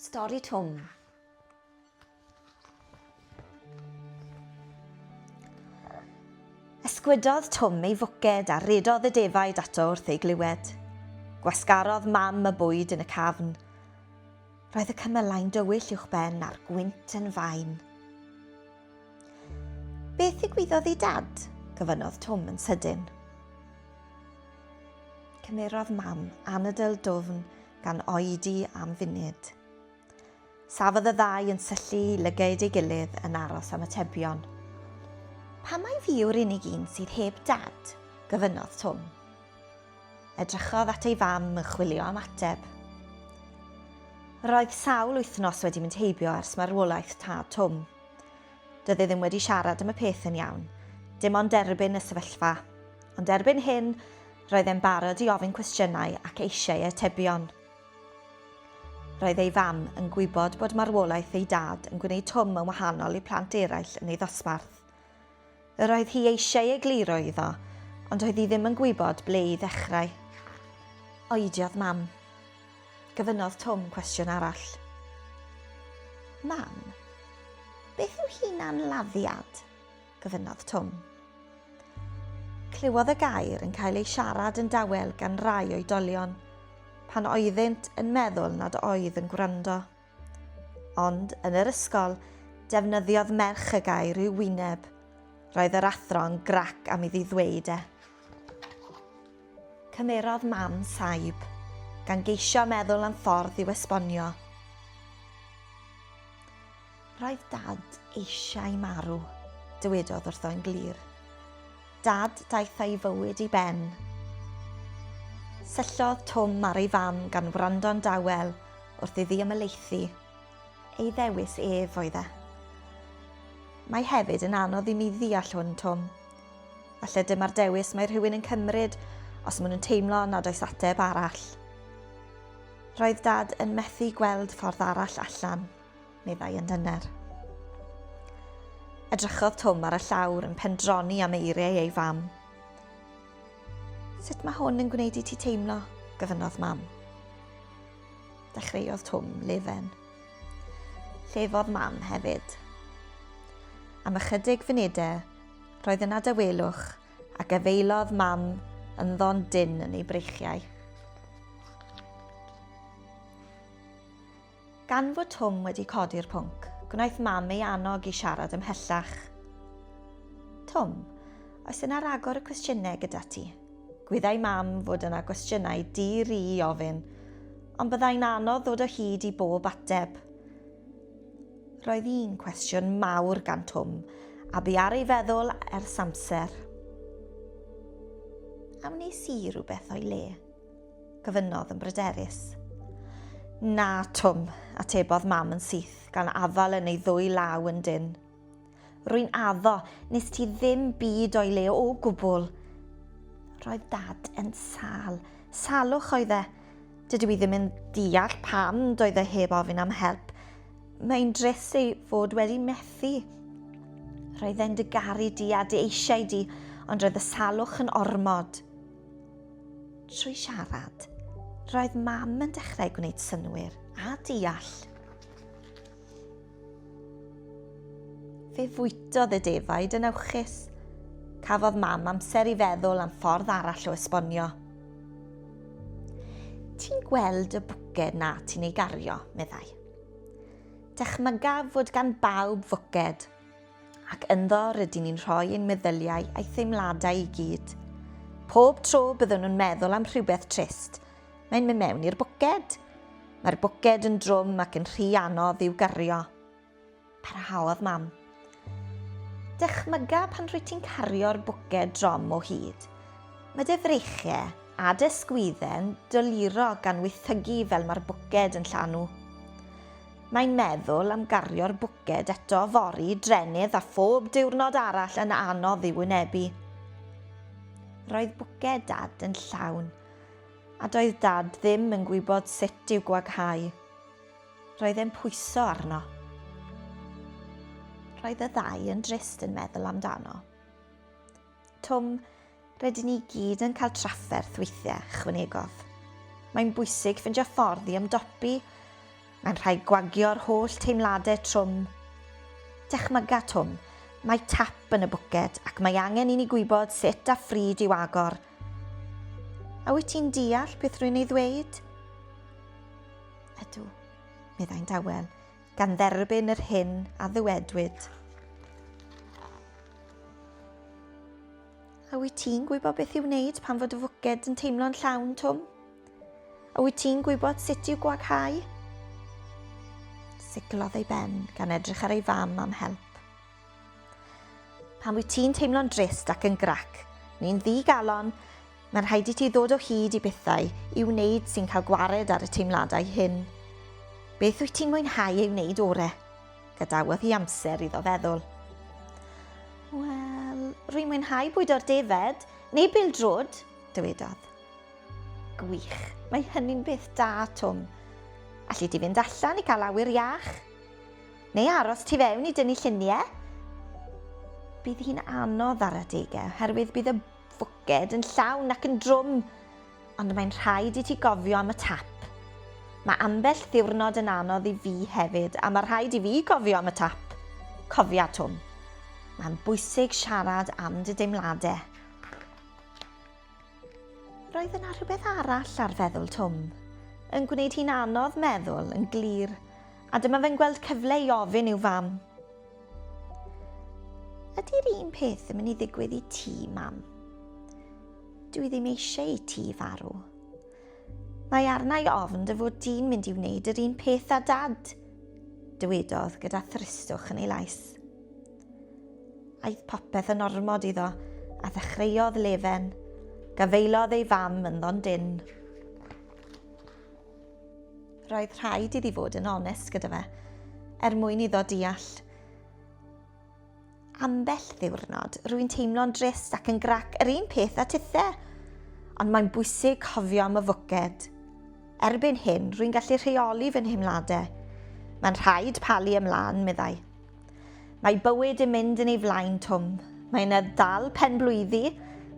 Stori Twm Ysgwydodd Twm ei fwced a redodd y defaid ato wrth ei glywed. Gwasgarodd mam y bwyd yn y cafn. Roedd y cymylau'n dywyll uwch ben a'r gwynt yn fain. Beth ddigwyddodd i Dad? gofynnodd Twm yn sydyn. Cymerodd Mam anadl dwfn gan oedi am funud. Safodd y ddau yn syllu lygaid ei gilydd yn aros am atebion. Pa mai fi yw'r unig un sydd heb dad? gofynnodd Twm. Edrychodd at ei fam yn chwilio am ateb. Roedd sawl wythnos wedi mynd heibio ers marwolaeth tad Twm. Doedd e ddim wedi siarad am y peth yn iawn, dim ond derbyn y sefyllfa. Ond erbyn hyn, roedd e'n barod i ofyn cwestiynau ac eisiau atebion. Roedd ei fam yn gwybod bod marwolaeth ei dad yn gwneud Twm yn wahanol i plant eraill yn ei ddosbarth. Yr oedd hi eisiau egluro iddo, ond oedd hi ddim yn gwybod ble i ddechrau. Oediodd Mam. Gofynnodd Twm cwestiwn arall. Mam, beth yw hunanladdiad? gofynnodd Twm. Clywodd y gair yn cael ei siarad yn dawel gan rai oedolion, pan oeddynt yn meddwl nad oedd yn gwrando. Ond, yn yr ysgol, defnyddiodd merch y gair i'w wyneb. Roedd yr athro'n grac am iddi ddweud e. Cymerodd Mam saib, gan geisio meddwl am ffordd i'w esbonio. Roedd Dad eisiau marw, dywedodd wrtho yn glir. Dad daeth a'i fywyd i ben. Syllodd Twm ar ei fam gan wrando'n dawel wrth iddi ymhelaethu. Ei ddewis ef oedd e. Mae hefyd yn anodd i mi ddeall hwn, Twm. Falle dyma'r dewis mae rhywun yn cymryd os maen nhw'n teimlo nad oes ateb arall. Roedd Dad yn methu gweld ffordd arall allan. meddai yn dyner. Edrychodd Twm ar y llawr yn pendroni am eiriau ei fam. Sut mae hwn yn gwneud i ti teimlo? gyfynodd mam. Dechreuodd Twm lefen. Llefodd mam hefyd. Am ychydig funudau, roedd yna dawelwch a gyfeilodd mam yn ddon dyn yn ei breichiau. Gan fod Twm wedi codi'r pwnc, gwnaeth Mam ei annog i siarad ymhellach. Twm, oes yna ragor o cwestiynau gyda ti? Gwyddai Mam fod yna gwestiynau di-ri i ofyn, ond byddai'n anodd ddod o hyd i bob ateb. Roedd un cwestiwn mawr gan Twm, a bu ar ei feddwl ers amser. A wnes i rhywbeth o'i le? gofynnodd yn bryderus. Na, Twm, atebodd mam yn syth, gan afal yn ei ddwy law yn dyn. Rwy'n addo, nes ti ddim byd o'i le o gwbl. Roedd dad yn sal. Salwch oedd e. Dydw i ddim yn deall pam doedd e heb ofyn am help. Mae'n drist ei fod wedi methu. Roedd e'n dy garu di a dy eisiau di, ond roedd y salwch yn ormod. Trwy siarad, roedd mam yn dechrau gwneud synwyr a deall. Fe fwytodd y defaid yn awchus. Cafodd mam amser i feddwl am ffordd arall o esbonio. Ti'n gweld y bwced na ti'n ei gario, meddai. Dychmyga fod gan bawb fwced, ac ynddo rydyn ni'n rhoi ein meddyliau a'i theimladau i gyd. Pob tro byddwn nhw'n meddwl am rhywbeth trist, mae'n mynd mewn i'r bwced. Mae'r bwced yn drwm ac yn rhy anodd i'w gario. Parhaodd mam. Dychmyga pan rwy ti'n cario'r bwced drom o hyd. Mae dy freichiau a dy sgwydden doluro gan wythygu fel mae'r bwced yn llanw. Mae'n meddwl am gario'r bwced eto fory, drenydd a phob diwrnod arall yn anodd i'w wynebu. Roedd bwced dad yn llawn, a doedd dad ddim yn gwybod sut i'w gwaghau. Roedd e'n pwyso arno. Roedd y ddau yn drist yn meddwl amdano. Tom, rydyn ni gyd yn cael trafferth weithiau, chwynegodd. Mae'n bwysig ffindio ffordd i ymdopi. Mae'n rhaid gwagio'r holl teimladau trwm. Dychmyga, Tom, mae tap yn y bwced ac mae angen i ni gwybod sut a phryd i'w agor. A wyt ti'n deall beth rwy'n ei ddweud? Ydw, meddai'n dawel. gan dderbyn yr hyn a ddywedwyd. A wyt ti'n gwybod beth i'w wneud pan fod y fwced yn teimlo'n llawn, Twm? A wyt ti'n gwybod sut i'w gwaghau? Siglodd ei ben gan edrych ar ei fam am help. Pan wyt ti'n teimlo'n drist ac yn grac, neu'n ddi-galon, mae'n rhaid i ti ddod o hyd i bethau i wneud sy'n cael gwared ar y teimladau hyn. Beth wyt ti'n mwynhau ei wneud ore? Gadawodd hi amser iddo feddwl. Wel, rwy'n mwynhau bwydo'r defaid, neu bildrod, dywedodd. Gwych, mae hynny'n beth da, Twm. Alli di fynd allan i gael awyr iach? Neu aros tu fewn i dynnu llunie? Bydd hi'n anodd ar adegau oherwydd bydd y fwced yn llawn ac yn drwm, ond mae'n rhaid i ti gofio am y tap. Mae ambell ddiwrnod yn anodd i fi hefyd a mae rhaid i fi gofio am y tap. Cofia, Twm. Mae'n bwysig siarad am dy deimladau. Roedd yna rhywbeth arall ar feddwl Twm, yn gwneud hi'n anodd meddwl yn glir, a dyma fe'n gweld cyfle i ofyn i'w fam. Ydy'r un peth yn mynd i ddigwydd i ti, mam? Dwi ddim eisiau i ti farw. Mae arnau ofn dy fod di'n mynd i wneud yr un peth â dad, dywedodd gyda thristwch yn ei lais. Aeth popeth yn ormod iddo, a ddechreuodd lefen. Gafaelodd ei fam ynddo'n dyn. Roedd rhaid iddi fod yn onest gyda fe, er mwyn iddo deall. Ambell ddiwrnod, rwy'n teimlo'n drist ac yn grac yr un peth a tithe, ond mae'n bwysig cofio am y fwced. Erbyn hyn, rwy'n gallu rheoli fy nheimladau. Mae'n rhaid palu ymlaen, meddai. Mae bywyd yn mynd yn ei flaen, Twm. Mae yna ddal pen-blwyddi,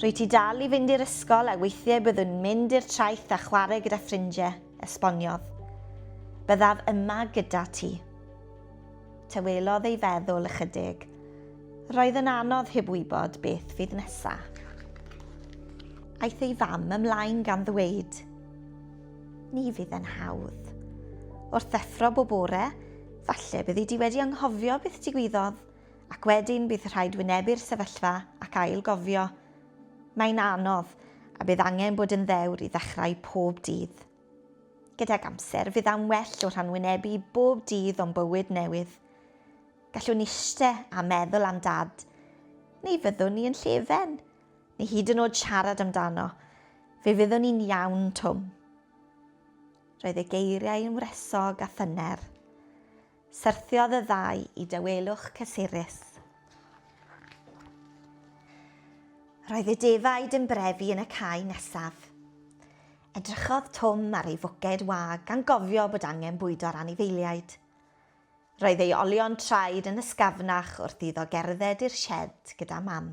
rwy ti dal i fynd i'r ysgol a weithiau byddwn mynd i'r traeth a chwarae gyda ffrindiau, esboniodd. Byddaf yma gyda ti. Tawelodd ei feddwl ychydig. Roedd yn anodd heb wybod beth fydd nesaf. Aeth ei fam ymlaen gan ddweud. Ni fydd yn hawdd. Wrth ddeffro bob bore, falle byddi di wedi anghofio beth digwyddodd, ac wedyn bydd rhaid wynebu'r sefyllfa ac ail gofio. Mae'n anodd, a bydd angen bod yn ddewr i ddechrau pob dydd. Gydag amser, fydd am well o rhan wynebu bob dydd o'n bywyd newydd. Gallwn iste a meddwl am dad, neu fyddwn ni yn llefen? Neu hyd yn oed siarad amdano. Fe fyddwn i'n iawn, Twm. Roedd ei geiriau yn wresog a thyner. Syrthiodd y ddau i dawelwch cysurus. Roedd y defaid yn brefu yn y cae nesaf. Edrychodd Twm ar ei fwced wag gan gofio bod angen bwydo'r anifeiliaid. Roedd ei olion traed yn ysgafnach wrth iddo gerdded i'r sied gyda Mam.